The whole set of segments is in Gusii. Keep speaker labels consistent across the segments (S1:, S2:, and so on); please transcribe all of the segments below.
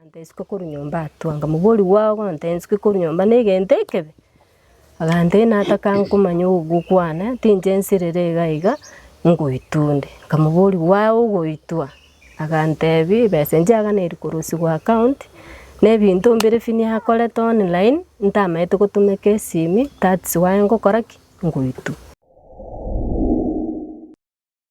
S1: Agantesuka korwa nyomba atwange, Omobori bwao ogontesuka korwa nyomba negento ekebe? Agantena atakankomanya ogokwa kwane, tinche nsirere iga iga, ngoitwa onde. Omobori bwao ogoitwa? Agantebia, ebesa eria yaganeirwe korusigwa account, na ebinto mbire ebi niakorete online, ntamanyete gotumeka esimi, that's why ngokora ki? ngoitwa.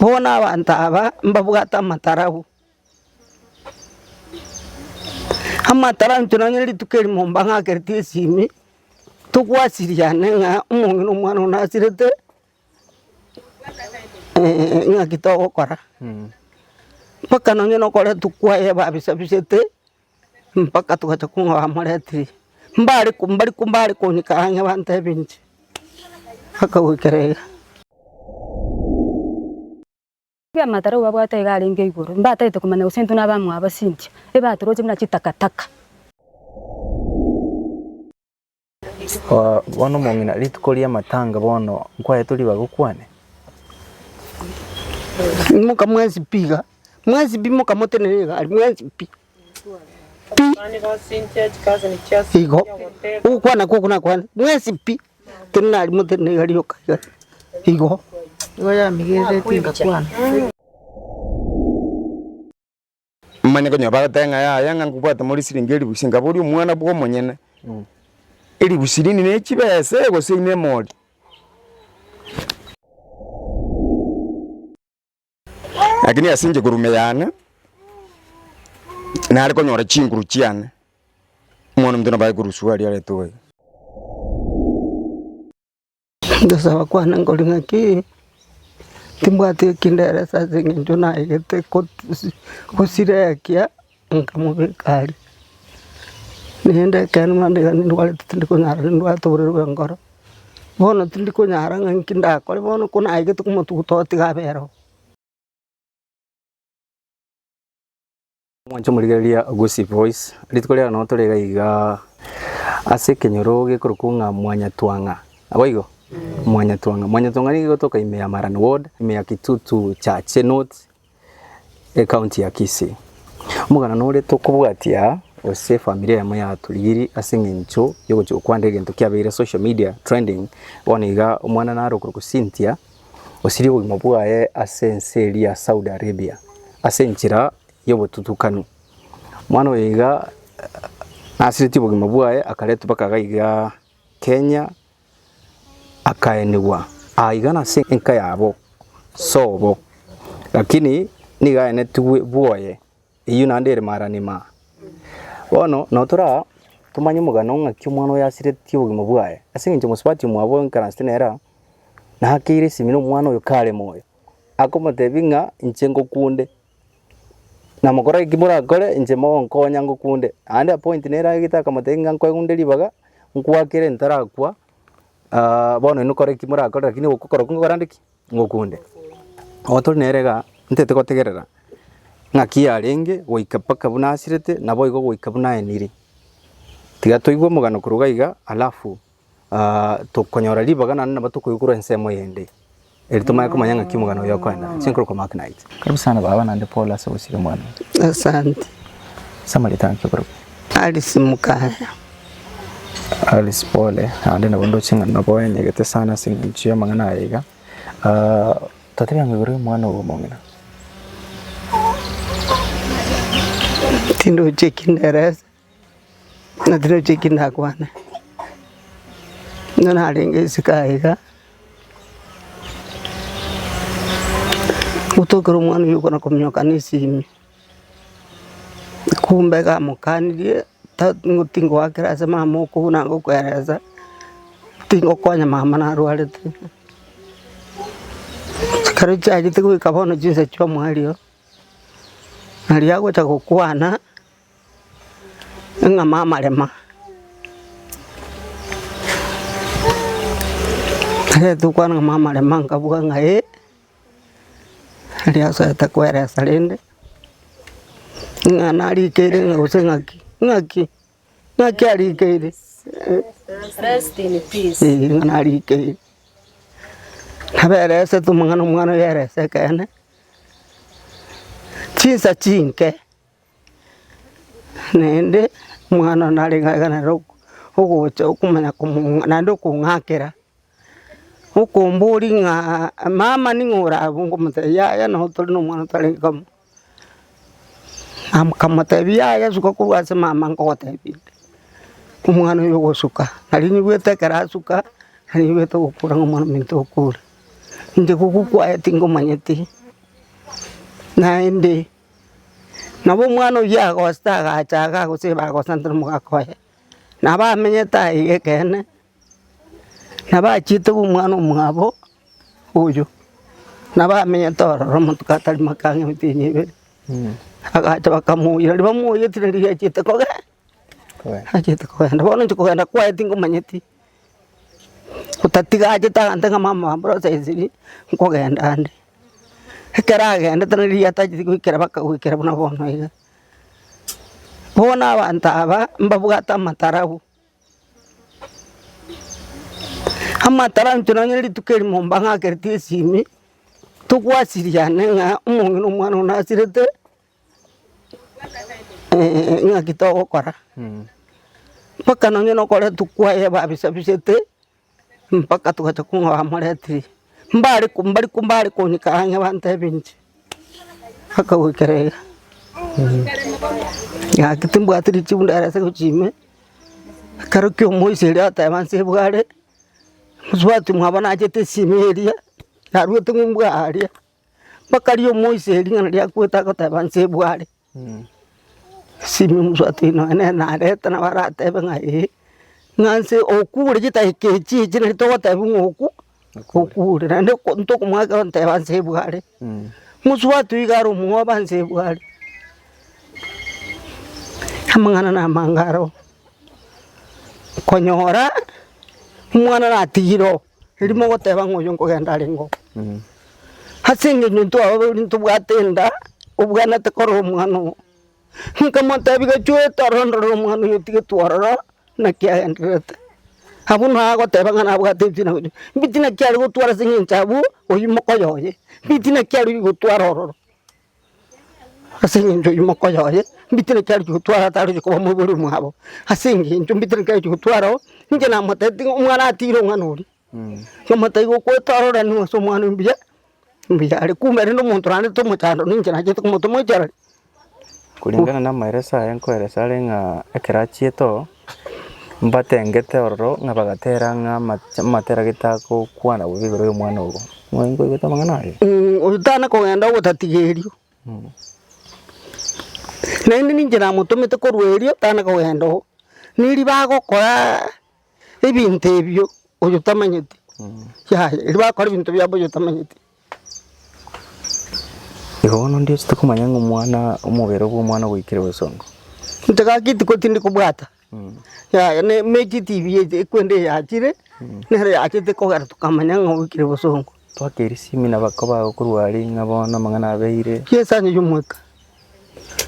S1: Bono abanto aba mbabwate amatarau, amatarau intwe nonye rituko eri mombang'akerete esimi, togwasiriane ng'a omong'ina omwana one asirete ng'aki togokora. Mpaka nonye nokoretu kwaye babisa bisete. Mpaka togacha kong'a bamoreteire, mbare ko mbare ko mbare kooneka ang'e bantebe inche, mpaka goikera iga. Amataro babwate iga arenge igoro, mbatagete komanya gose intwe nabamwabo abasinchia, ebatoroche buna chitakataka. Bono omong'ina, rituko ri'amatanga bono nkwaetwe ribaga okwane? Imoka mwensi pi iga, mwensi pi imoka motenene iga, aria mwensi pi, pi, igo, ogokwana kwoku nakwane, mwensi pi, tenena aria motenene iga, rioka iga, igo. Manye konya bagoteba ng'a yaya ng'a nkobwate more siringi elifu ise, nkabori omwana bwa omonyene, elifu sirini ne chibesa ee gose ine emori. Lakini ase inche korwa ime yane, nare konyora chinguru chiane, omwana omonto nabo aye koruswa aria aretoe iga. Ngosaba kwane nkore ng'aki, timbwati eki nderesa ase eng'encho naegete gosira ekia nkamobeka aria. Naende ekeene mambia iga nindwarete tindi konyara nindwate oborwaire bwa enkoro, bono tindi konyara ng'a nki ndakore bono ko naegete komotuguta otiga abe ere oo. Omwancha omorigereria Augusi Bois, Rituko riao nonya tore iga iga ase ekenyoro gekorokwa ng'a Mwanyatwang'a. Naboigo? Mwanyatwang'a. Mwanyatwang'a nigo igotoka ime ya Maran Ward, ime ya Kitutu Church North, ecounty ya Kisii. Omogana nore tokobwatia aa, gose efamiri eyemo yatorigirie ase eng'encho yogochia gokwana egento kiabeire social media trending, bono iga omwana nare okorokwa Cynthia, osirie obogima bwaye ase ense eria ya Saudi Arabia. Ase enchera y'obotutukani. Omwana oyo iga nasiretie obogima bwaye akaretwa mpaka iga iga Kenya akaenigwa aa iga nase enka yabo sobo lakini nigo aenetigwe bwoye eyio naende ere marani ma. Bono nabo tore aa tomanye omogano ng'aki omwana oyo asiretie obogima bwaye ase eng'encho omosubati omwabo oikaransete nere aa nakeire esimi na omwana oyo kare moyo akomotebi ng'a inche ngokunde. Namokora eki morakore, inche mogonkonya ngokunde. Naende appoint nere agete akamotebia ng'a nkwegunde ribaga, nkwakere ntarakwa, ah bono inwe kora eki morakore lakini ogokora okwo ngokorande ki? Ngokunde. Nabo tore nere igaa, ntaete gotegerera ng'aki yarenge goika mpaka buna asirete, naboigo goika buna aenire. Tiga toigwe omogano korwa igaa alafu tokonyora ribaga naende nabo tokoigwa korwa ensemo eyende, eri tomanye komanya ng'aki omogano oye okoenda. Ase enkorokoro Mark Knight. Karibu sana baba naende pole ase ogosirigwa mwana oye. Asante. Ase amarita ng'aki okorokire? Alice Mukaya. Alice pole naende nabo ndoche ng'a nabo oenyegete sana ase engencho y'amang'ana aya iga. Ah, totebe ang'o igoro y'omwana ogo omong'ina? Tindoche ekinderesa. Natireti eki ndakwane, nigo narenge isiko aye iga, gotoka ekero omwana oyio okona kominyoka na esimi, kumbe iga amokanirie ta- ngo tingoakera ase mama okobu na ngokoeresa, tingokonya mama narwarete. Ekero chiachete goika bono chinsa chiomoerio, naria agocha gokwana. Eng'ama amarema Egento okwana eng'ama amarema nkabua ng'a ee, aria asaete koeresa rende, ng'a narikeire ng'a gose ng'aki, ng'aki, ng'aki arikeire eeh ng'a narikeire. Naberesete omong'ana omwana oyo ayereise ekeene, chinsa chinke. Naende omwana oyio nareng'ana nere ogocha okomanya komong'a naende okong'akera, okomboria ng'a mama ning'o orabwo nkomotebia yaya nabo tore na omwana otarenge kamo, nkamotebia yaya suka korwa ase mama nkogotebia ere, omwana oyio ogosuka nari nyigwete ekero asuka nari nyigwete ogokora ng'a omwana ominto okure, inche gokwa kwaye tingomanyeti naende. Nabo omwana oyio agosoa agacha iga agosibaa agosantera omogaka oye, nabo amenyete aye iga ekeene, nabo achiete omwana omwabo oyio, nabo amenyete ororo amatuko atari make ang'e emiti enyia ibere, agacha bakamoira, ribamoiyetire riria achiete kogenda, achiete kogenda, bono inche kogenda kwaye tingomanyeti. Otatiga achete agante ng'a mama aa mboro saisiri nkogenda ande. Ekero agendete na riria atacheti goikera baka goikera buna bono iga. Bono abanto aba mbabwate amatarabu, amatarabu intwe nonye rituko erimo mbang'akereti esimi, togwasiriane ng'a omong'ina omwana one nasirete ng'aki togokora mpaka nonye nokoretwa kwaye babisabisete mpaka togacha kong'aa bamoreteire mbare ko mbari ko mbare konyeka ang'e bantebe inche mpaka goikera iga ng'aki timbwati richibu ndare ase gochia ime ekero kia omoisa erio ateba nse bware mosubati mwabo nachete esime eria narwete ng'umbu aria. Bakaria omoisia ere ring'ana ria goeta agoteba nse bware. Simi omosubati oino nonye nere narete nabo aratebe ng'a ee, ng'a nse okure chidakika echi echi nari togotebi ng'a oku okure. Naende ko ntokomoa ekero nteba nse bware. Mosubati oiga are omwoba nse bware. Amang'ana na amange aro, konyora omwana natigire oo. Erio mogoteba ng'a oyio nkogenda arenge oo. Ase eng'encho intwe ababori ntobwate enda, obwanete korora omwana oo. Nkamotebia chwete orondorere omwana oyio otigetwe ororo, naki agendererete. Abwo nao agoteba ng'a nabwate ebitina bibiri, mbitina ki are gotwara ase eng'encho abwo, oyio mokoyo oye, mbitina ki are gotwara ororo. Ase engencho eyio mokoyo oye, mbite naki aroche gotwara ataroche koba omoibori omwabo, ase engencho mbite naki aroche gotwara oo, ninche namotebete ng'a omwana atiire omwana oria, nkamotebia igo okoetororenewa ase omwana oyo mbuya, mbuya are, kumbe rende omonto naende tomochando ninche nachete komotoma oichorere. Kulingana na amaereso aye nkoeresa are ng'a ekero achiete oo. Mbatengete ororo ng'a bagatera ng'a amatera getagokwana bobe igoro y'omwana obo. Mwabwati nkoigwete amang'ana aye? Oyo tana kogenda ogotatigerio. Naende ninche namotomete korwa erio tana kogenda oo. Neriba agokora ebinto ebio oyo tamanyeti. Yaya, riba agokora ebinto biabo oyo tamanyeti. Igo bono ndioche tokomanya ng'a omwana, omobere obwo omwana ogoikire gose ongo. Inche gaki tiko tindi kobwata, yaya ne emechie tibi echi ekwende eyachire, nere yachete kogera tokamanya ng'a oikire gose ongo. Twaka erisimi naba kobago korwa aria ng'a bono amang'ana abeire. Kie esani ya omweka.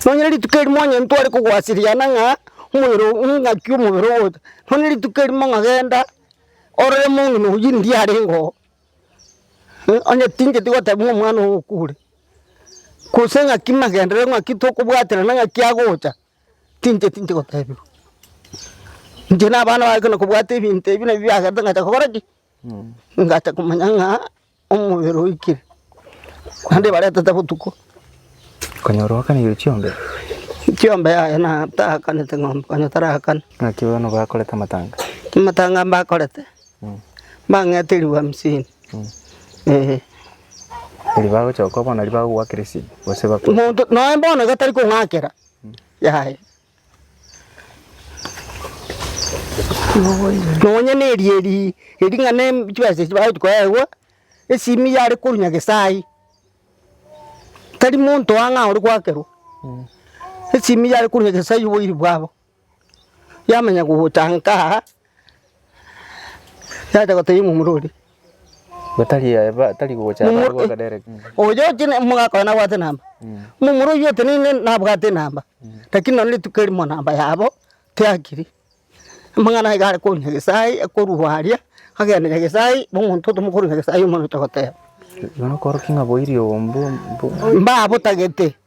S1: Nonya rituko erimo onye ntware kogwasiriana ng'a omobere oo ng'aki omobere ogocha. Nonya rituko erimo ng'a genda orore mong'ina oyio ndie arenge oo. Onye tingeti goteba ng'a omwana ogo okure, gose ng'aki magendereo ng'aki tokobwaterana ng'aki agocha, tinche tinche gotebiwa. Inche na abana baye ekero nakobwate ebinto ebi nabi biagete ngacha kogora ki? ngacha komanya ng'a omobere oikire, naende ebaretete botuko. Konyora oakaneirie chiombe? Chiombe yaya natakanete ng'ombe, konya tarakana. Ng'aki bono bakorete amatanga? Amatanga mbakorete. Mbang'ete ribu hamsini. Ee. Erio bagochoka bono riba bagogoakera esegi gose bakwa. Monto noe bono gatari kong'akera. Yaya. Nonye ne eria eri ering'ana em- chibesa echi bagochi koegwa, esimi yare korwa Nyagesai. Tari monto ang'aa ore goakerwa. Esimi yare korwa Nyagesai oboiri bwabo. Yamanya gotanka aa, yacha gotebia momura oria, Gotari aye ba- tari gocha aba momura goaka direct. oyo otiene omogaka oye nabwate enamba, momura oywo oteneine nabwate enamba, lakini nonya rituko erimo namba yabo tiakiri. Amang'ana aye iga are korwa Nyagesai, akorwa aria, agenda Nyagesai, na omonto otomokorwa Nyagesai omonto otagoteba. Nonya okorokia ng'a boirio mbu- mbu- Mbabotagete.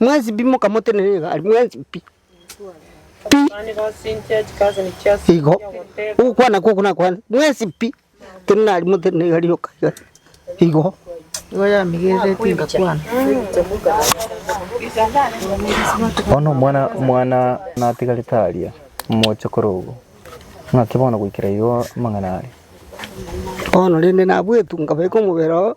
S1: Mwensi pi mokamotenena iga aria mwensi pi, pi, igo, ogokwana kwoku nakwane, mwensi pi, tenena aria motenena iga rioka iga, igo. Nigo yamigerereti ngakwana. Bono omwana omwana natigarete aria omochokoro obo, ng'aki bono goikera igo amang'ana aria? Bono rende nabwetu nkabeka omobere oo.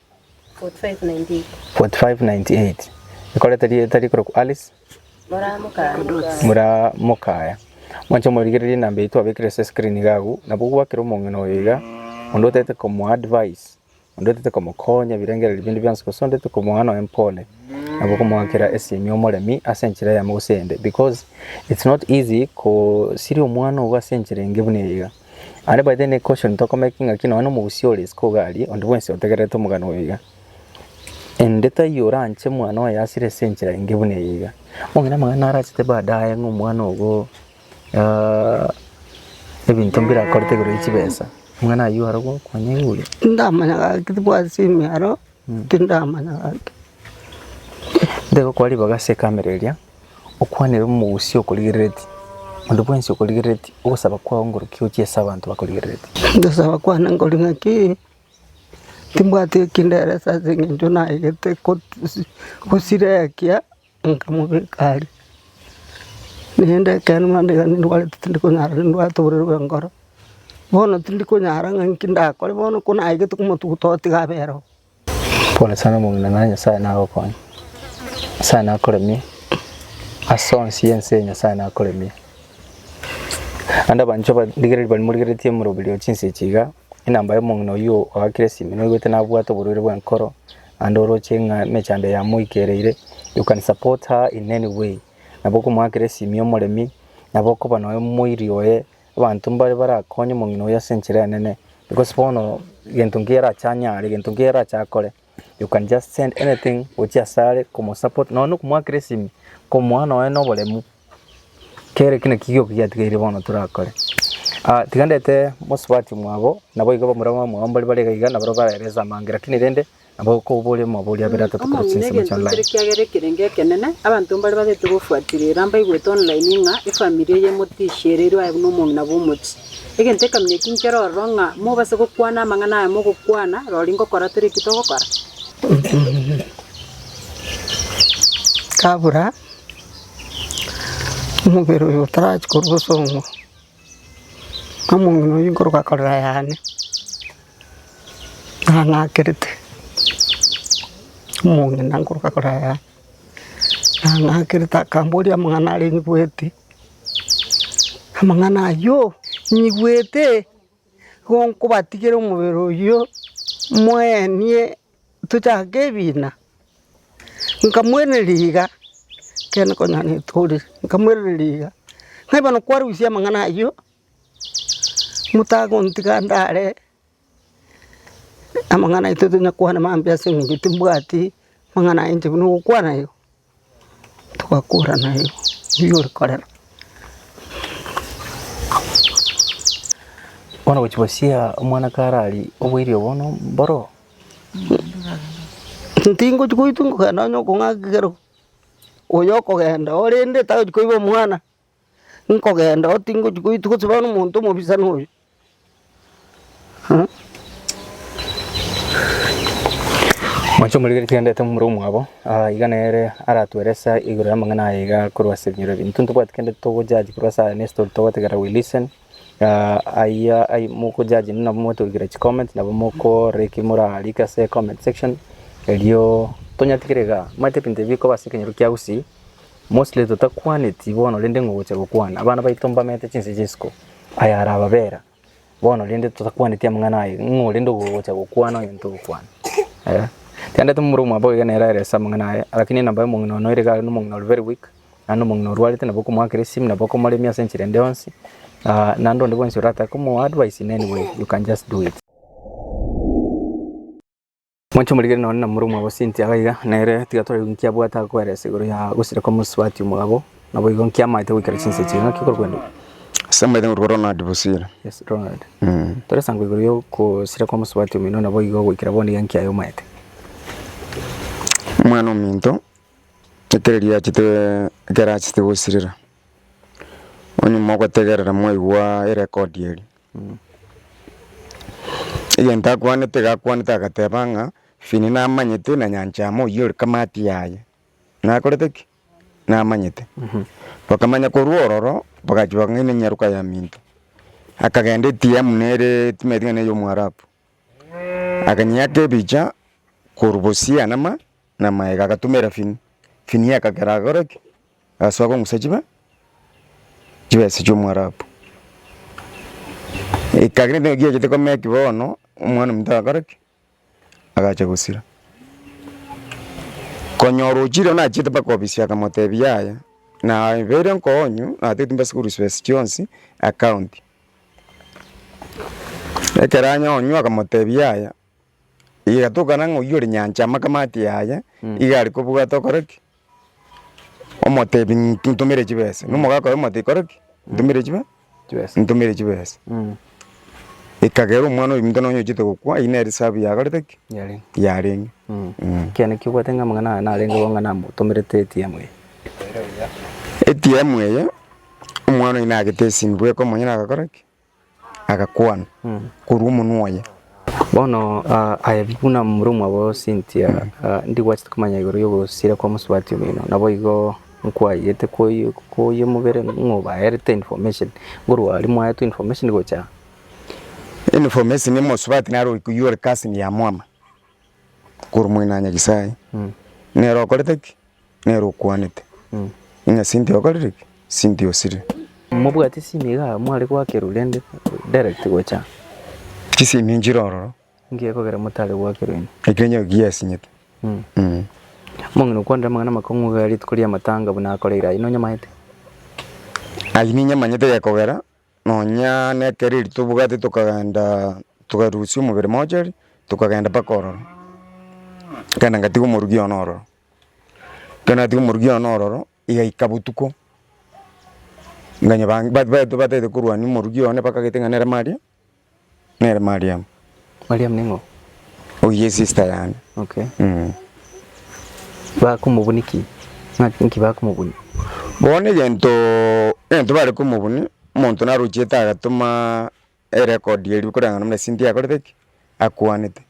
S1: 4598 Ekorete rieta rikorokwa Alice. Muraa mokaya. Mwanche omorigererie enamba eyio twabekire ase screen iga agwo, nabo ogwakera omong'ina oyo iga, onde otaete komoa advice, onde otaete komokonya ebirengererio binde bionsi gose onde otaete komoa nonya empore, nabo okomoakera esimi omoremi ase enchera eyemo gose eyende because it's not easy kosiria omwana ogo ase enchera enge buna eye iga. Aria baete nekoshoni tokomeki ngaki nonya nomogusii ore isiko iga aria, onde bwensi otegererete omogano oyo iga. Ende taiyo oranche mwana oye asire ase enchera enge buna eye iga. Omong'ina amang'ana narachete baadaye ng'a omwana ogo ah, ebinto mbirakorete igoro ya chibesa. Omong'ina ayio arogokwa neiyo. Ndamanya gaki tibwati ase emearo. Tindamanya gaki nde gokora ribaga ase ekamera eria, okwanere omogusia okorigerereti, monto bwensi okorigerereti, ogosaba kwao ngorokia gochia ase abanto bakorigerereti. Ogosaba kwane nkore ng'aki, timbwati eki nderesa ase eng'encho naegete gosireka. Nkamobeka aria. Naende ekeene mambia iga nindwarete tindi konyara nindwarete oborwaire bw'enkoro. Bono tindi konyara ng'a inki ndakore bono ko naegete komotuguta otiga abere oo. Pole sana omong'ina naye Nyasaye nagokonye. Nyasaye nakoremie ase onsi ense eye Nyasaye nakoremie. Naende abanchwa ba rigereri baria morigeretie omoroberi o chinsa echi iga, inamba ya omong'ina oyio oakire esimi noigwete nabwate oborwaire bw'enkoro. Naende oroche ng'a emechando yamoikereire, you can support her in any way. Nabo okomoakera esimi omoremi, nabo okoba nonya omoiri oye, abanto mbare barakonye omong'ina oye ase enchera enene, because bono gento nkiya arache anyare, gento nkiya arache akore, you can just send anything gochia asare komosupport, nonya na okomoakera esimi, komoa nonya na oboremu. Kera eki naki gioka giatigaire bono torakore. Tiga ndete mosubati mwabo, naboigo bamura bamura mwabo mbari bare iga iga, nabarabwo baraeresa amanga, lakini rende nabo kobori omobori abere atato korwa Amang'ina chinsemo egento chi'online. nkere kiagera ekerenge ekenene, abanto mbare babete gofuaterera mbaigwete online ng'a efamiri eye emotishi ere erwo aye buna omong'ina bw'omochie. Egento ekamina eki nkere ororo ng'a mobase gokwana amang'ana aya mogokwana rori ngokora tore eki togokora. Kabura. Omobere oyo otarachia korwa osong'we, na omong'ina oyio nkoroka korera yane, ng'a ng'akerete, omong'ina nkoroka korera yane, ng'a ng'akerete akamboria amang'ana aria nyigwete, amang'ana ayio nyigwete, igo nkobatigera omobere oyio moenie. Tochake ebiina. Nkamwenereri iga, ekeene konya netore, nkamwenereri iga, ng'a bono kwarusia amang'ana ayio, motagontiga ndare amang'ana aito tonya kwana mambia ase eng'encho timbwati mang'ana aye inche buna ogokwana ayo. Togakora naye oyio ore korera, bono gochia bosia omwana kare aria oboirio bono mboro. Tingochia goitwa kogenda onye okong'akerwa oyo okogenda orende tari koiba omwana. Nkogenda oo tingochia goitwa gose bono omonto omobisani oyo Moche omorigererie twendeete momura omwabo, aa iga nere aratwere ase igoro y'amang'ana aya igaa korwa ase ebinyoro ebi. Intwe ntobwati kende togo judge korwa ase aya ne story togotegerera we listen aa ayia ai moko judge nende nabo motorikire chicoment nabo mokoorora eki morarike ase comment section erio tonyatigere igaa omanyete ebinto ebi bikoba ase ekenyoro kia usi Mostly totakwaneti bono rende ng'o gocha gokwana, abana baito mbamenyete chinse chia isiko, aya ara ababera bono rende totakwaneti amang'ana aya, ng'o rende ogo ogocha gokwana onye ntogokwana? Eh. Tiandeti momura omwabo iga nere aerese amang'ana aya, lakini namba omong'ina one oire iga are nomong'ina ore very weak, naende omong'ina orwarete nabo okomoakera esimi nabo okomoremia ase enchera ende yonsi, ah naende onde bwensi oratake komo advise in any way you can just do it. Mwanche morigere nonye namura omwabasi ntiaga iga, nere tiga torebe inki abwate ase koeresa igoro ya gosira kw'omosubati omogabo, naboigo inki amaete goikera chinsa echi. Naki korwendo. Ase amaete ngorwa Ronald Bosire. Yes, Ronald. Tore sango igoro ya ogosira kw'omosubati omino naboigo goikera bono iga inki aye omaete. Omwana ominto ekero erio achete ekero achete gosirira, onyuma ogotegerera mwaigwa erecord eria. Egento akwanete iga akwanete agateba ng'a ebi nigo namanyete na nyancha amo oyio ore kamatia yaye nakorete ki? namanyete. Bakamanya korwa ororo bagachia bakang'aina enyaroka ya minto, akagenda etia buna ere timaeti ng'a ne ya omwarabu akanyeaka ebicha korwa bosia na ma. na maega agatumera Fini, Fini akagera agakora ki? agasoa kong'usa chibe chibesa chia Omoarabu. Ekagera nigo giachete komea ki bono, omwana omonto agakora ki? agacha gosira. Konyora ochire buna achiete mpaka ofisi akamotebia yaya nabeire nkonyu natete mbe school fees chionsi account. Ekero anyonywa akamotebia yaya. Igatokana ng'a oyio ore nyancha amakamati yaye iga are kobwate okore ki? Omotebi ng'inki ntomere chibesa. Na omogaaka oye omotebia kore ki? Ntomere chibe Chibesa. ntomere chibesa. Mm. Ekagera omwana oyominto nonye ochete gokwa eyio nere esabu yakorete ki? Yarenge. Yarenge. Mm. Mm. Ekiagera nakio obwate ng'a amang'ana aya narenge bo ng'a namotomerete ATM eye. ATM eye, omwana oyio nagete esinto bweka omonye nagakora ki? agakwana korwa omonwa oye. Bono aye buna momura omwabo Cynthia, ndigwachete komanya igoro y'ogosira kwa mosubati omino, naboigo nkwayete koyemobere ng'a obaerete information nkorwa aria mwaetwe information gocha aa. Information ya mosubati naro oyi koyia ore cousin ya mwama korwa Mwene Anyagisai, nere okorete ki? Nere okwanete, Ing'a sinti okorire ki? Sinti osire? Mobwate simi iga mware gwakerwa rende direct gocha. Chisimi nchire ororo. Nki gekogera motare gwakerwa ime? Ekio onye giasinyete. Omong'ina okwanire amang'ana amakong'u iga rituko ri'amatanga buna akoreire ayio nonyamanyete? Ayio ninyamanyete gekogera nonya nekero erio tobwate tokagenda tokarusia omobere mochari tokagenda mpaka ororo, nkaenda ngatiga omorugi one ororo. Ekero natiga omorokia one ororo, igaika botuko, nkanyebaa ba- ba- batagete korwania omorokia one bakagete ng'a nere Mariam, nere Mariam. Mariam ning'o? Oyio esista yane. Okay. Bakomobunia ki? Ng'a nki bakomobunia? Bono egento egento bare komobunia, omonto narochiete agatoma Erekodi erio koreng'ana buna Cynthia akorete ki? Akwanete.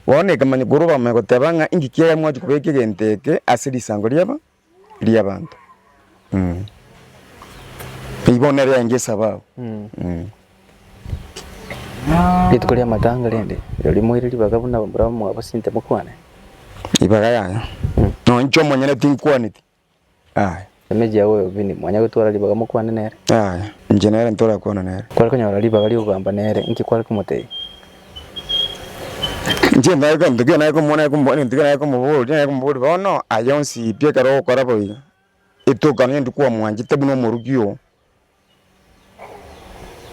S1: Bono ekemanyererio korwa abamama egoteba ng'a inki kiagera mwachia kobeka egento eke ase risango ri'aba ri'abanto. Eyio bono nere yaye ngesaba abwo. Rituko ri'amatanga rende rirorio moire ribaga buna barabwo mwabo Cynthia mokwane? Ribaga yane, nonya inche omonyene tinkwaneti, Aya. Emechie yao y'obobini, mwanya gotwara ribaga mokwane nere? Aya. Inche nere ntorakwane nere. Kware konyora ribaga ri'ogogamba nere, inki kware komotebia? Inche ndare gento kiria nare komoa, nare komoboria gento kiria nare komoboria, nare komoboria bono, aye onsi pi ekero ogokora boigo, etoka nonya rituko kwamwanchete buna omoruki oo,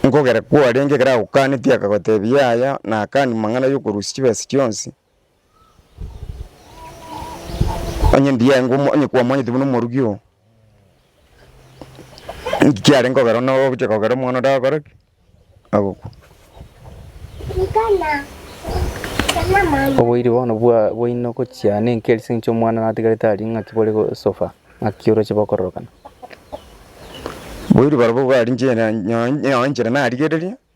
S1: nkogera kwarenge ekero agokanetie akagotebia yaya, nakanire mang'ana y'okorusia chibesa chionsi, Onye ndiaengwa omo- onye kwamwanyete buna omoruki oo, inki kiarenge kogera one ogochia kogera omwana onde agokora ki? Agokwa. Oboiri bono bwa- bwaino gochia nenki ase eng'encho omwana natigarete aria ng'aki bore gosoba, ng'aki oroche bokororokana. Boiri barobwo bwariinche na- nyo- nyo- nyoenchera narigereria.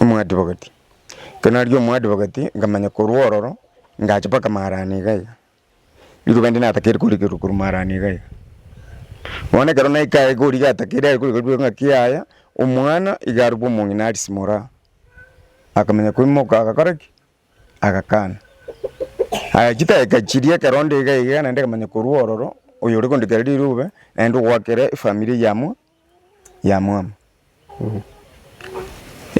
S1: Omwadvocate, ekero narenge omwadvocate nkamanya korwa ororo ngacha mpaka maarani iga iga, riroba inde natakeire korigerwa korwa maarani iga iga. Bono ekero naika aye iga origa atakeire aye korigerwa riroba ng'aki yaya, omwana iga arokwa omong'ina arisimore aa, akamanya koimoka agakora ki? agakana. Aya chidakika chiria ekero onde iga iga naende nkamanya korwa ororo, oyo ore gondikera rirobe naende ogoakera efamiri eyemo. yamwama.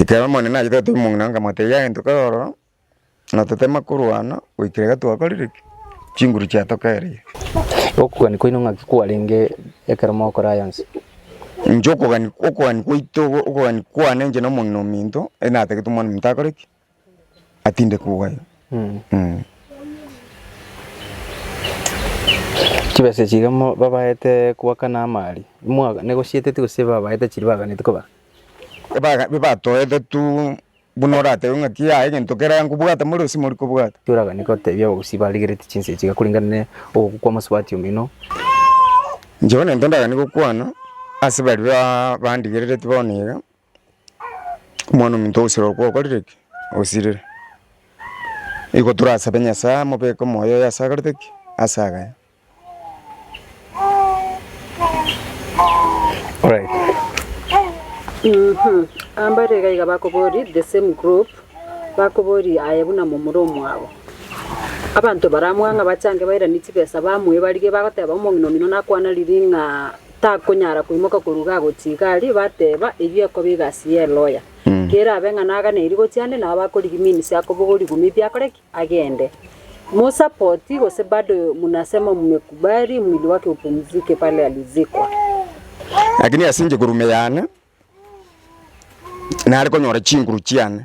S1: Ekero Omonene achete gotebia omong'ina onde, Motebia egento kere ororo, na totema korwana goikera iga twakorire ki? chinguru chiatokeereire. Okogania kwaino ng'aki kwarenge ekero mogokora aya onsi? Inche okogania, okogania kwaito, okogania kwane inche na omong'ina ominto, ere natagete omwana ominto akore ki? atinde kogaya. Chibesa echi iga mo- babaete kobakana amaari, imwa- negosieteti gose babaete chiri baganeti kobaka? Ebaga- bibatoete tu buna oratebe ng'aki yaya egento keria nkobwate more gose mori kobwate. Ki oraganie gotebia abagusii barigereti chinsa echi iga korengana ne ogokwa kwa mosubati omino? Inche bono egento ndaganie gokwana ase baria ba- bandigerereti bono iga. Omwana-o-monto ogosira okwo okorire ki? Osirire. Nigo torasabe Nyasae amobeke omoyo oye ase akorete ki? Ase agaye. Alright. Ambare iga iga bakoboria the same group bakoboria aye buna momura omwabo abanto baramwang'a bachange bairanie chibesa bamoe barigie bagoteba omong'ina omino nakwana riria ng'a takonyara koimoka korwa iga gochia iga aria, bateba, Eyio ekoba egasi y'eloya. Kerabe ng'a naganeiri gochia ande, nabo bakorigia minsi akobogoa rigumi biakore ki? Agende. Musa poti, gose bado munasema mmekubali mwili wake upumzike pale alizikwa? Lakini ase inche korwa ime yane nare konyora chinguru chiane.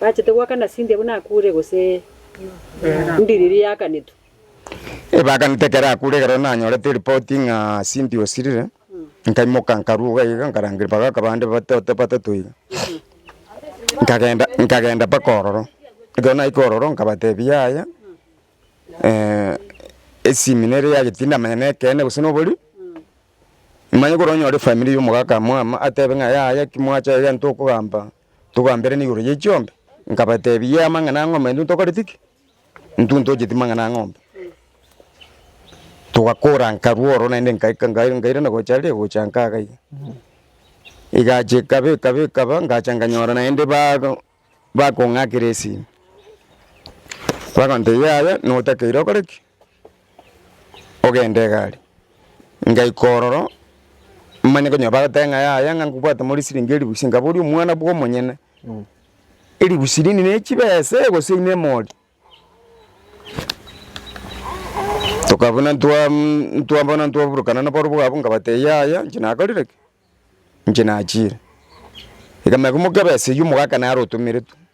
S1: Bachete goakana Cynthia buna akure gose ndiriri yakanetwe. Ebaganete ekero akure ekero nanyorete eripoti ng'a Cynthia osirire, nkaimoka nkaruga iga nkarangeria mpaka akabande batoto batato iga. Nkagenda nkagenda mpaka ororo, ekero naikire ororo nkabatebia yaya esimi nere yaye tindamanya nekeene gose nobori, manye kore onyore efamiri ya omogaka mwama atebe ng'a yaya ki mwacha iga ntokogamba Togamberana igoro ye chiombe, nkabateebia amang'ana ang'ombe intwe ntokoreti ki? Intwe ntocheti mang'ana ang'ombe. Togakora nkarwa oro naende nkaika nkaira nkairana gocha ria gocha nkaga iga. Egacha ekaba ekaba ekaba ngacha nkanyora naende bago bakong'akera esimi. Bagontebia yaya notakeire okore ki? ogende egari. Ngaika ororo, manye konya bagoteba ng'a yaya ng'a nkobwate more siringi elifu ise, nkabori omwana bwo omonyene, elifu sirini ne chibesa ee gose ine emori? Toka buna ntwa ntwa bono ntwaburukana naboro bwa abwo nkabatebia yaya inche nakorire ki? inche nachiire. Iga manya komokabesa eywo omogaka naro otomeretwe,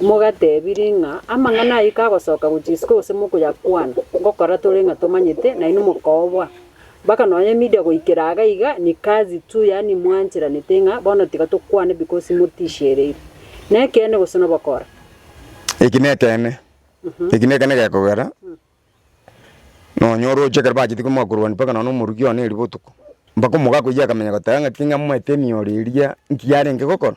S1: Mogatebirie ng'a amang'ana ayio kagosoka gochia isiko gose mokoyakwana, ngokora tore ng'a tomanyete, nainwe mokoobwa. Mpaka nonya media goikera iga iga ni kazi tu yaani mwancheranete ng'a bono tiga tokwane because motishereire. Nekeene gose nobokora? Eki nekeene. Eki nekeene gekogera nonya oroche ekero bacheti komoa korwania mpaka nonya omoruki one eri botuko, mpaka omogaka oyio akamenya goteba ng'aki ng'amoete emioro eria nki yarenge gokora.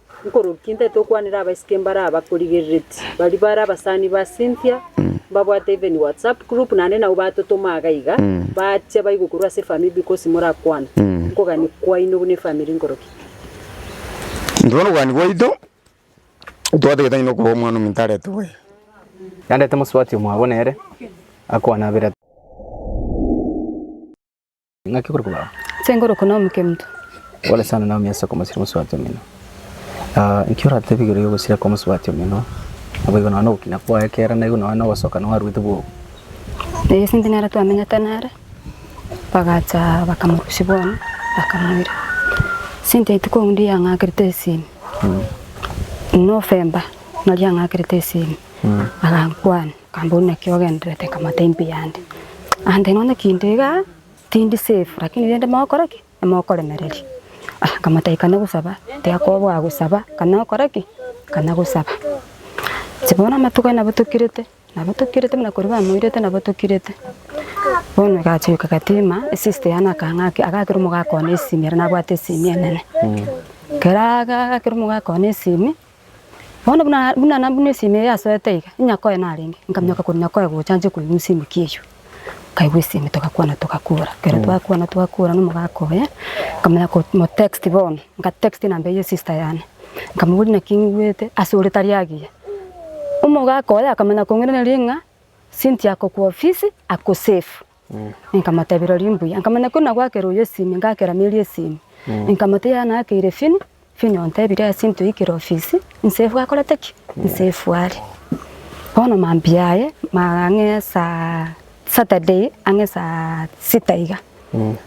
S1: Nkorokia ntaete gokwanera abaiseke mbare abakorigerereti, baria bare abasani ba Cynthia, mbabwate even WhatsApp group naende nabwo batotoma iga iga, bachia baigwa korwa ase efamiri because morakwane. Nkogani kwaino buna efamiri nkorokia. Intwe nokogani gwaito twatagete ng'a nokorwa omwana ominto arete boigo. Nandete mosubati omwabo nere akwane abere. Ng'aki okore kobao? Nse ngorokwa Naomi Kemto. Pole sana Naomi ase okomosira omosubati omino. Ah, nki oratebi igoro y'ogosira kw'omosubati omino? Naboigo nonya nogokina kwaye kera naigo nonya nogosoka noaruete bwogo. Ee, ase intwe nere twamenyete nere, bagacha bakamorusia bono, bakamoira. Ase intwe rituko rinde riang'akerete esimi, November, nario ang'akerete esimi, agankwania. Kambori naki ogenderete kamata imbe yande? Ande nonya kinde iga tindi safe lakini rende mogokora ki? Mokoremereria. Aya nkamata ikana gosaba, tiga koboa gosaba kana okore ki? Kana gosaba. Inche bono amatuko aye nabo tokirete, nabo tokirete buna koria bamoirete nabo tokirete. Bono egacha yoka egatima, esister yane akang'a ki? Agakera omogaka one esimi ere nabwate esimi enene. Kera agakera omogaka one esimi. Bono buna buna na buna esimi eye yasoete iga, inyakoe narenge, nkamioka korwa nyakoe gocha nche koigwa esimi ki eyio. Nkaigwa esimi togakwana togakora, ekero Mm. twakwana twakora na omogaka oye, nkamanya ko mo text bono, nka text enamba eye ya sister yane, nkamoboria naki ng'igwete ase ore tari agiya. Omogaka oye akamanya kong'iraneria ng'a Cynthia ako kwa ofisi ako safe. Nkamotebia, Rirorio mbuya. Nkamanya kori nagwakera oyo esimi, ngakera Mary esimi. Nkamotebia, Yaya nakeire Fini. Fini ontebire ase intwe oikire ofisi, inse efu akorete ki? Inse efu are. Bono mambia aye, ma- ang'e esaa Saturday ang'e esaa sita iga,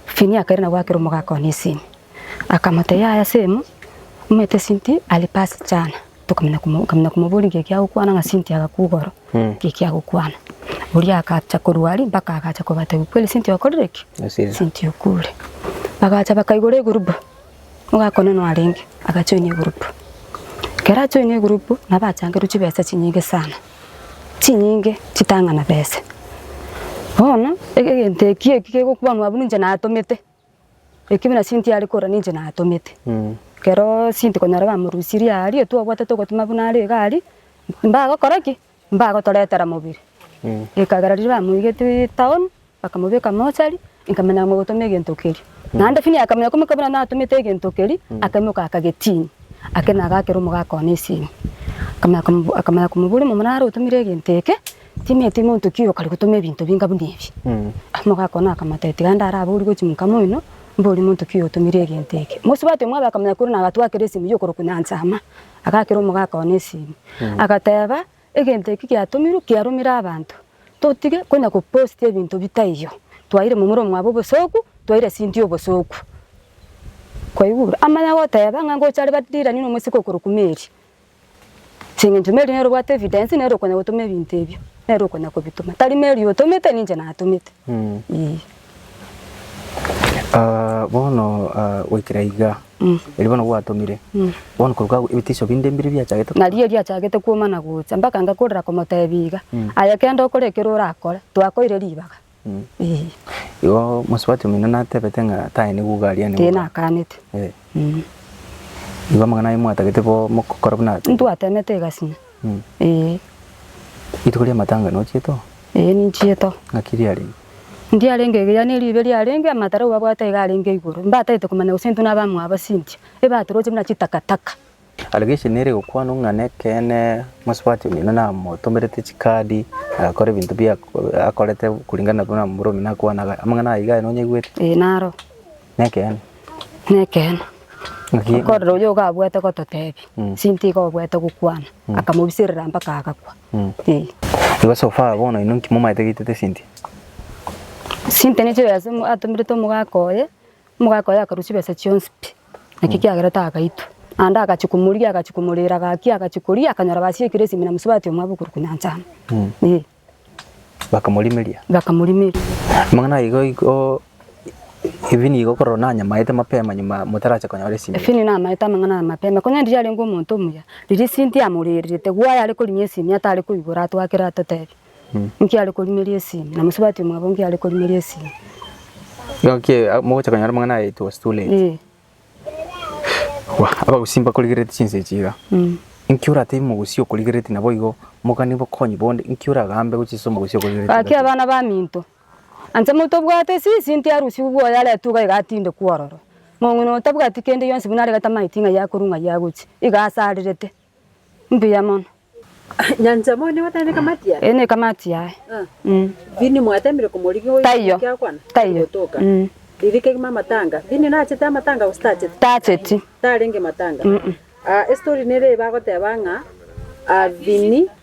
S1: Fini akaira nagwakera omogaka one esimi. Akamotebia, Yaya same, omanyete since alipasi jana. Tokamanya komo- kamanya komoboria nki ekiagokwana ng'a Cynthia agakwa igoro, nki ekiagokwana. Oria agacha korwa aria mpaka agacha kobatebi kweli Cynthia okorire ki? Osire. Cynthia okure. Bagacha bakaigora egurupu, ogakonenwa arenge agachoina egurupu. Ekero achoina egurupu nabo achangerwe chibesa chinyinge sana, chinyinge chitang'ana besa. Bono ege egento ekio eki kegokwanwa abwo ninche natomete, Ekibi na sinto yare korora ninche natomete. Ekero sinto konyora bamorusirie aaria twabwate togotuma buna are iga aria, mbagokora ki? Mbagotoretera mobere. Ekagera riria bamoigetie town, bakamobeka mochari, nkamanya mogotoma egento keria. Naende finia akamanya komoika buna natomete egento keria, akaimoka akagetiinia. Ake nagakera omogaka one esimi. Akamanya komoboria, Omomura are otomire egento eke? Timeti monto ki oyokare gotoma ebinto binga buna ebi? Omogaka one akamata, Tiga ndare abe ori gochi monka moino, mbori monto ki oyotomire egento eke? Mosubati omwabe akamenya korwa nagatua kera esimi y'okorokwa Nyancha Ama, agakera omogaka one esimi, agateba, Egento eki giatomirwe kiaromire abanto, totige konya gopost ebinto bitaiyo. Twaire momura omwabo obosooku, twaire Cynthia obosooku. Kwaigure? Amanya goteba ng'a ngocha are barirani nomosike okorokwa Mary. As'engencho Mary nere obwate evidence nere okonya gotoma ebinto ebio, nere okonya kobitoma. Tari Mary otomete ninche natomete. Eeh. Ah bono ah goikera igaa, erio bono gwatomire, bono korwa kago ebitisio binde mbire biachagete korwa? Nario biachagete kwomana gocha, mpaka ngakorera komotebia iga, aye kende okore ekero orakore, twakoire ribaga. Igo mosubati omino natebete ng'a taye nigouga aria nigo. Tinakaanete. Igo amang'ana aye mwatagete bo mogokora buna. Ntwatemete egasini. Ee. Rituko ria matanga nochiete oo? Ee ninchiete oo. Ng'aki riarenge? Ndiarenge iga yaani ribe riarenge amatara ababwate iga arenge igoro. Mbatagete komanya gose intwe nabamwabo ase inche, ebatoroche buna chitakataka. Arabia echi nere egokwana ng'a nekeene mosubati omino namotomerete chikaadi agakora ebinto bia akorete kuringana buna momura omino akwanaga. Amang'ana ayio iga aye nonyaigwete? Ee naro. Nekeene? Nekeene. Ng'aki? Okorora oyo iga abwate gototebi mm. sinto iga obwate gokwana mm. akamobiserera mpaka agakwa mm. ee. Igo so far bono inwe nki momaete gaitete sinti? Sinti nichio yase atomerete omogaka oye Omogaaka oye akarua chibesa chionsi pi, naki kiagerete agaitwa. Naende agachia komorigia, agachia komoreera gaki, agachia koria, akanyora basiekire esimi na mosubati omwabo okorwa konyanchama. Ee. Bakamorimeria. Bakamorimeria. Amang'ana ayaiga igo, ebi nigo okorora onye nanyamaete mapema nyuma motarache konyora esimi. Ebi nigo namaete amang'ana aya mapema, konya riria arenge omonto omuya, riria esinto yamoreerete, igo ayare korinyia esimi atare koigora atwakere atotebie. Inki are korimeria esimi? Na mosubati omwabo inki are korimeria esimi? Gaki mogocha konyora amang'ana aya it was too late. Ee. Abagusii mbakorigereretie chinsa echi iga. Inki oratebi omogusii okorigereretie naboigo mogani bokonyi bonde inki oragambe gochia ase omogusii okorigereretie Gaki iga? abana baminto, ancha motobwate sisi inti arusigwe bwoye aretwe iga iga atindekwe ororo. Mong'ina oyo tabwati kende gionsi buna aregete amaiti ng'ai akorwa ng'ai agochia, iga asarerete. Mbuya mono. Nyancha moyo nigo tari nekamati yaye? Eye nekamati yaye. Mm. Vini mwatemire komorigia oyo Taiyo. omokia akwana? Taiyo. Gotoka. Mm. Riria kegima amatanga. Vini nachete amatanga gose tachete? Tacheti. Tarenge matanga. Ah, estory nere eba agoteba ng'a ah, Vini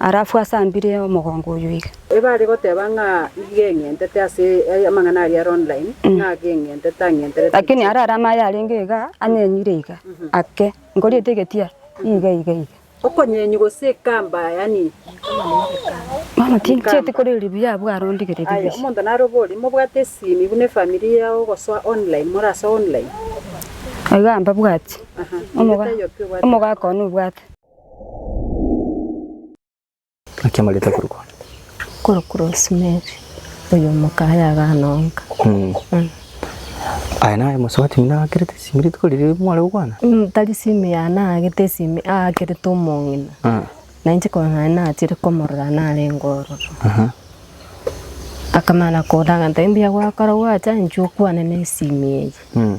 S1: Arafu asambire omogongo oyio iga. Ebare goteba ng'a igeng'entete ase amang'ana aria are online ng'a ageng'entete ang'enterete. Lakini arare amaye arenge iga anyenyire iga ake nkoriete egetia iga iga iga. Okonyenywa gose ekamba yaani Mama tincheti koreri buya abwo arondigereri Aya buya. omonto narobori mobwate esimi buna efamiri yao gosoa online morasoe online. Iga mbabwati. Aha. Omogaka one obwate. Akemarete korokwa. korokwa Rosemary, oyo omoka aye agana onka. Mm. Mm. Aya naye mosubati buna akerete esimi rituko riria mware gokwana. Mm, tari simu yane agete esimi akerete omong'ina Ah. na inche korwa nare nachire komorora narenge ororo Aha. akamana kodaga ntabe mbuya gwakora gwacha inche okwane na esimi eye Mm.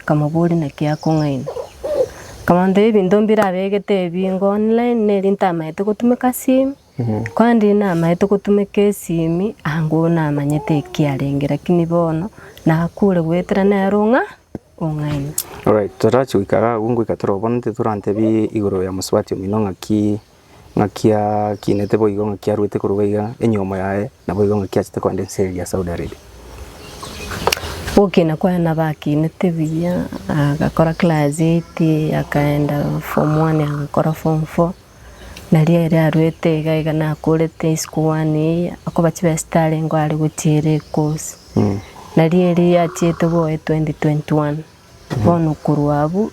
S1: Akamobooria, Naki akong'aina? Akamotebia, Ebinto mbirabegete ebinge online, neri ntamaete gotumeka esimi, korende inee namaete gotumeka esimi ango namanyete eki arenge, lakini bono nakure goetera nere ong'a ong'aina. Alright, torachi goika iga abwo ngoika torobono, ntorantebi igoro ya mosubati omino ng'aki ng'akiakinete boigo ng'a kiaruete koruga iga enyomo yaye naboigo ng'a kiachete kogenda ense eye ya Saudi Arabia. Gokina kwaye nabakinete buya, agakora class eight, akaenda form one agakora form four, nario ere aruete iga iga nakorete isiko one eye, akoba chibesete arenge are gochiera ecourse. Nario erio yachiete boe twenty twenty one. Bono korwa abwo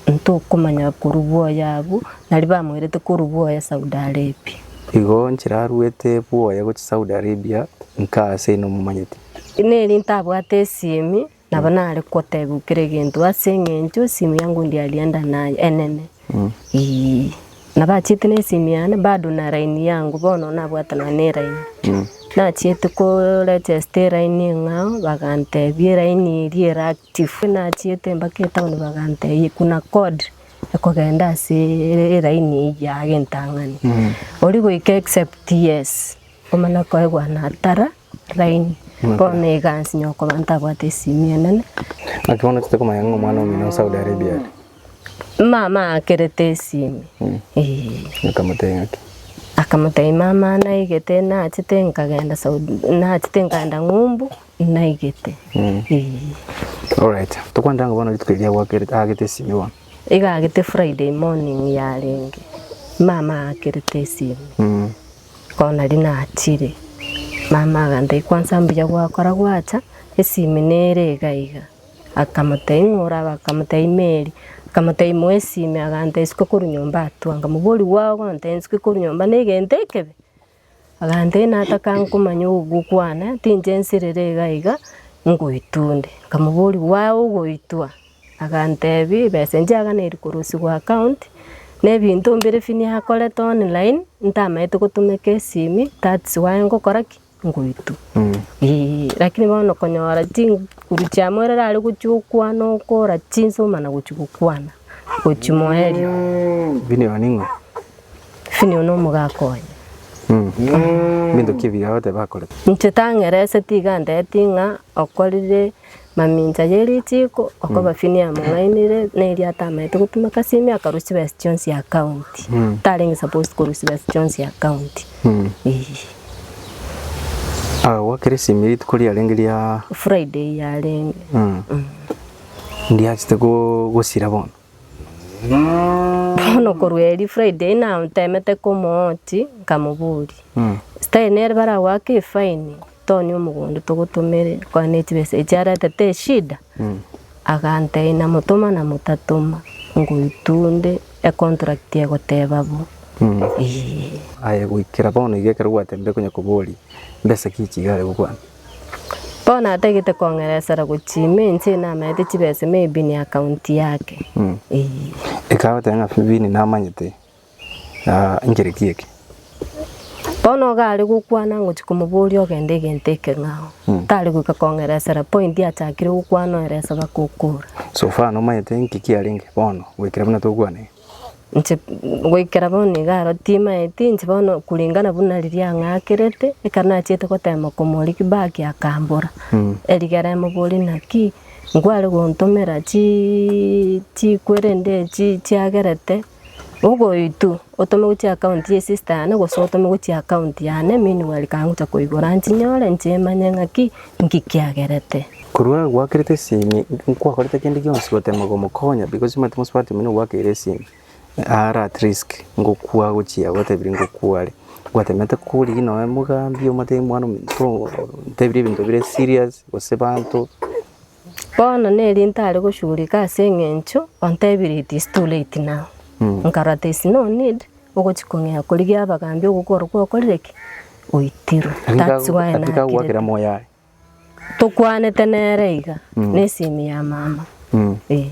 S1: ntokomanya korwa bwoya abwo nari bamoirete korwa bwoya Saudi Arabia. Igo nchiraruete bwoya gochia Saudi Arabia nkaa ase inwe momanyete. Neri ntabwate esimi nabo nare kotebiwa kera egento ase engencho esimi yango ndiarianda naye enene. Ii. Nabachiete nesimi yane bado na line yangu bono nabwate nonya ne line. Nachiete ko regesta eline eng'ao bagantebia eline eria ere active. Nachiete mpaka etown bagantebia kuna code ekogenda ase eline eyio age entang'ani. Oria goika except yes omana koegwa natara line bono egansinya okobaa ntabwate esimi enene. Naki bono totakomanya ng'a omwana omino o Saudi Arabia are. Mama aakerete esimi. Eh. Akamotebia ng'aki? Akamotebia mama naigete nachete nkagenda Saudi nachete nkaenda ng'umbu naigete. Eh. Alright. Tokwanera ng'a bono rituko erio agwakerete aagete esimi bono. Iga agete Friday morning yarenge. Mama aakerete esimi. Bono nari nachire. Mama agantebia kwansa mbuya gwakora gwacha esimi nere iga iga. Akamotaimora, bakamotebia, Imeri. Akamotebia, Moesime. Agantebia, Isiko korwa nyomba atwo. Nkamobori, Gwao gontebia nsike korwa nyomba negento ekebe? Agantebia, Natakankomanya ogokwa kwane, tinche nsirere iga iga, ngoitwa onde. Nkamobori, Gwao ogoitwa? Agantebia, Ebesa eria chiaganeiri korusigwa account, na ebinto mbire ebi niakorete online, ntamanyete gotumeka esimi, that's why ngokora ki? ngoitwa. Ee, lakini bono konyora chinguru chia moyo erere are gochia gokwana okora chinsuma na gochia gokwana gochia moerio. Vinio ning'o? Finio na omogaka oye. Binto ki ebiya ogoteba akorete? Inche tang'erese tiga ndeti ng'a okorire Mamincha ye ritiiko okobafinia amang'ainire na eria atamaete gopima kasimi akarwa chibesa chionsi ya county. Tarenge supposed korwa chibesa chionsi ya county. Eeh. Agagwa keresimi rituko riarenge ria Friday yarenge. ndiachete gosira bono. Bono korwa eeri Friday natemete komooti nkamoboria. Style nere baragoaka efine Tony omogondo togotomeire kore ne chibesa echi arete teshida, agantebi namotoma namotatoma ngoitwa onde econtract egoteba bo eeh. Aye goikera bono iga ekero gwatebirie konya koboria mbesa ki echi iga are gokwana? Bono natagete kong'eresera gochia ime inche namerete chibesa ime ebini account yake eeh. Ekero agoteba ng'a bini namanyete. Inchire ki eke? Bono iga are gokwana ngochia komoboria ogende egento ekeng'ao. Tari goika kong'eresera point achakire gokwana oerese baka okora. So far nomanyete inki kiarenge bono goikera buna tokwana iga? Inche goikera bono iga aro timanyeti inche bono kulingana buna riria ang'akerete ekero nachiete goteema komoria ki baki akambora. Erigera emoborie naki nkware gontomera chi chikwere nde chi chiagerete Ogoitwa otome gochia account ye sister yane gose otome gochia account yane meanwhile kangocha koigora nchinyore nchimanye ng'aki nki kiagerete. Korwa nagwakerete esimi nkwakorete kende gionsi gotema komokonya because omanyete mosubati omonene ogwakeire esimi are at risk ngokwa gochia gwatebirie ngokwa are gwatemete korigia nonya mogambi omotebi mwana omonto otebirie ebinto bire serious gose banto. Bono neri ntare goshugurika ase eng'encho ontebire it is too late now. Nkarora there is no need ogochi kong'ea korigia abagambi ogokoro gwakorire ki? Oitirwe. That's why Atigagwa kera nakirete. moyo aye. Tokwanete nere iga na esimi ya mama. Mm. Eh.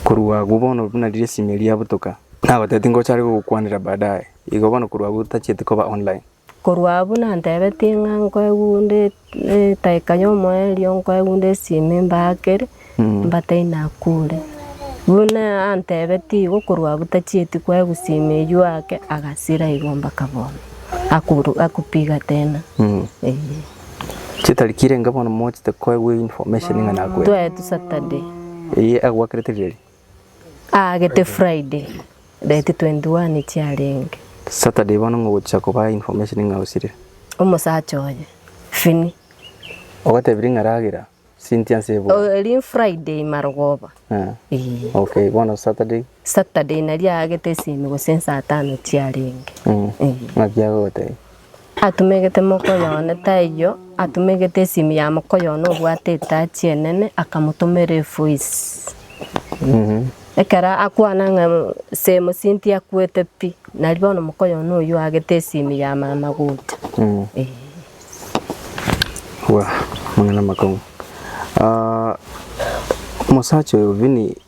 S1: Korwa agwo bono buna riria esimi eria yabutoka, nabatebitie ngocha are gogokwanera baadaye. Igo bono korwa agwo tachieti koba online. Korwa abwo nantebetie ng'a nkoegunde etaika y'omoerio, nkoegunde esimi mbaakere, mbatei Nakuru. Buna antebetie igo korwa abwo tachieti koegwa simi eywo ake, agasira igo mpaka bono. Akuru akupiga tena. Eeh. Chitariki irenge bono mochete koegwa information ng'a nakwete. Twaetu Saturday. Eye agwakerete riria ri? Aagete Friday date 21 chiarenge. Saturday bono ngogochia kobaa information ng'a osire. Omosacha oye, Fini. Ogotebirie ng'a ragera Cynthia nse ebuya. Oh erio Friday marogoba. Eeh. Okay bono Saturday. Saturday nario aagete esimi gose saa tano chiarenge. Ng'aki agogotebia? Atumegete mokoyo one, taiyo atumegete esimu ya mokoyo one obwate etachi enene akamotomera efoisi. Ekero akwana ng'a semo sinti akwete pi, nari bono mokoyo one oyio agete esimu ya mama gocha. Eh. Bwa amang'ana amakong'u. Ah, omosacha oyo Vini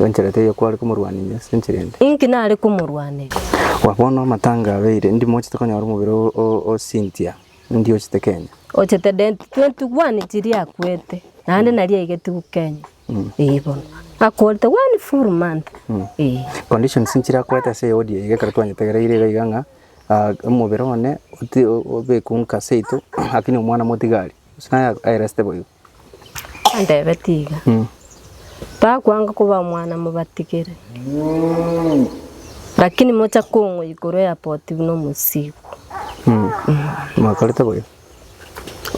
S1: Enchera teiyo kware komorwaninia ase enchera ende. Inki nare komorwanera? Wa bono amatanga abeire, ndi mochete konyora omobere o o Cynthia. Ndi ochete Kenya. Ochete dent twenty one chiria akwete naende naria aigetiwu Kenya. Eeh bono akorete one full month. Eeh. Conditions nchiria akwete ase ey'odi eye ekero twanyetegereire iga iga ng'a omobere one ote obekwe nka seito lakini omwana motigari. Gose naye aye resete boigo. Nteebe tiga takwanga koba omwana mobatigere, lakini mocha kong'wa igoro ya poti buna omosiikwa. Mwakorete boyo.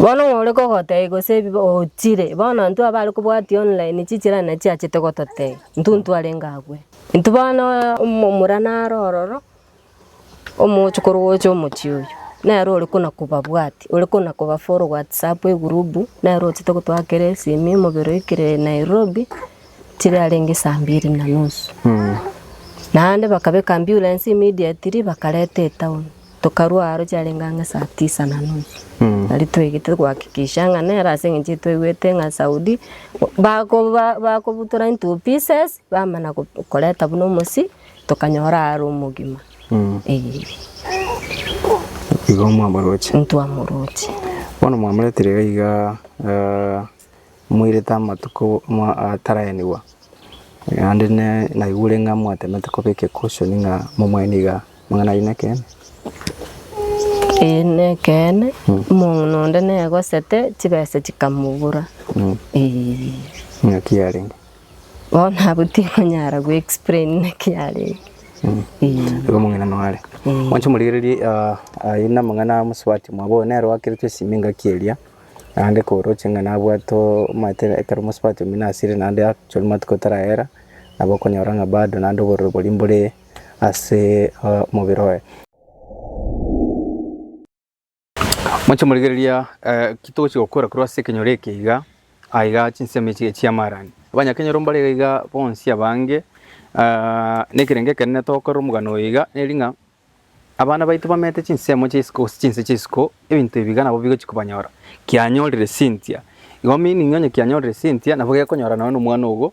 S1: Bono ng'a ore kogotebia gose ebi ochire, bono intwe abare kobwatia online chichirani na chiachete gototebia, intwe ntwarenge agwo. Intwe bono omomura naro ororo, Omochokoro gocha omochie oyo, nere ore kona kobabwati, ore kona kobafollow whatsapp egroup, nere ochete gotoa kere esimi omobere oikire Nairobi, chire arenge saa mbiri na nusu. Naende bakabeka ambulance immediately bakareta etown, tokarwa aro chiarenge ang'e saa tisa na nusu. Nari toigete gohakikisha ng'a nere ase eng'encho etwaigwete ng'a Saudi, bakoba bakobutora into pieces, Bamana koreta buna omosii tokanyora are omogima eeh. Igo mwamoroche. Ntwamoroche. Bono mwamoretire iga iga moirete amatuko ataraenigwa naende naigure ng'a mwatemete koba egekusio ng'a momwaenie iga amang'ana ayio nekeene? Eeh nekeene omonto onde negosete chibesa chikamobura eeh. Naki yarenge? Bono abwo tinkonyara go explain naki arenge. Igo omong'ina noare. Mwanche morigererie ah, aye namang'ana amosubati mwabo oyo nere oakeretwe esimi engaki eria naende koroche ng'a nabwate omate ekero omosubati omino asire naende achore amatuko tarayera nabo okonyora ng'a bado naende obororo boria mbore ase omobere oye. Moche morigereria ki togochia gokora korwa ase ekenyoro eke iga, aiga chinsemo echi chi'amaarani. Abanyakenyoro mbare iga iga bonsi abange, na ekerengo ekenene togokorera omogano oyo iga neri ng'a abana baito bamenyete chinsemo chia isiko gose chinse chi'isiko, ebinto ebi iga nabo bigochia kobanyora. Kianyorire Cynthia, igo meaning onye kianyorire Cynthia nabo gekonyora nonye na omwana ogo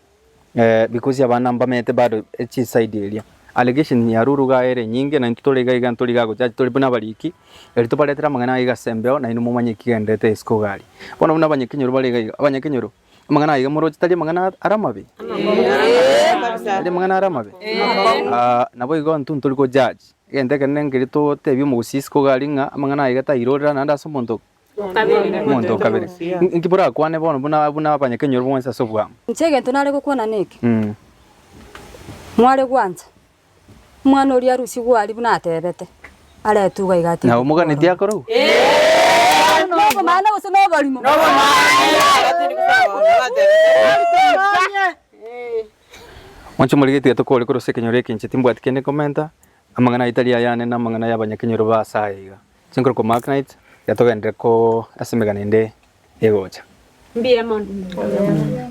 S1: Because abana mbamenyete bado echi side eria. Allegation ya Ruru iga ere nyinge naintwe tore iga iga ntori iga agochacha tore buna abariki. Eri tobaretere amang'ana aiga ase embeo nainwe momanye eki kigendererete isiko iga aria. Bono buna abanyakenyoro bare iga iga. Abanyakenyoro amang'ana aiga moroche tari amang'ana are amabe? Tari amang'ana are amabe? Ah, nabo igo intwe ntori go judge. Egento ekenene ngeria totebie omogusii isiko iga aria ng'a amang'ana aiga tairorera naende ase omonto Omonto o kabere. Inki borakwane bono buna buna abanyakenyoro bonsi ase obwamo? Inche egento nare gokwana neke, Mm. mware gwancha omwana oria arusie gwari buna atebete, are etugo iga atiga. Na omoganetie akore obo? Nobomana gose noborimo? Mwanche more getuya tokore korwa ase ekenyoro eke inche timbwati kende nkomenta, amang'ana aye tari ayane na amang'ana ya abanyakenyoro ba ase aya iga. Chinkorokoro Mark Knight yatogenderere ko ase emegano ende egocha. Mbuya mono Mbuya.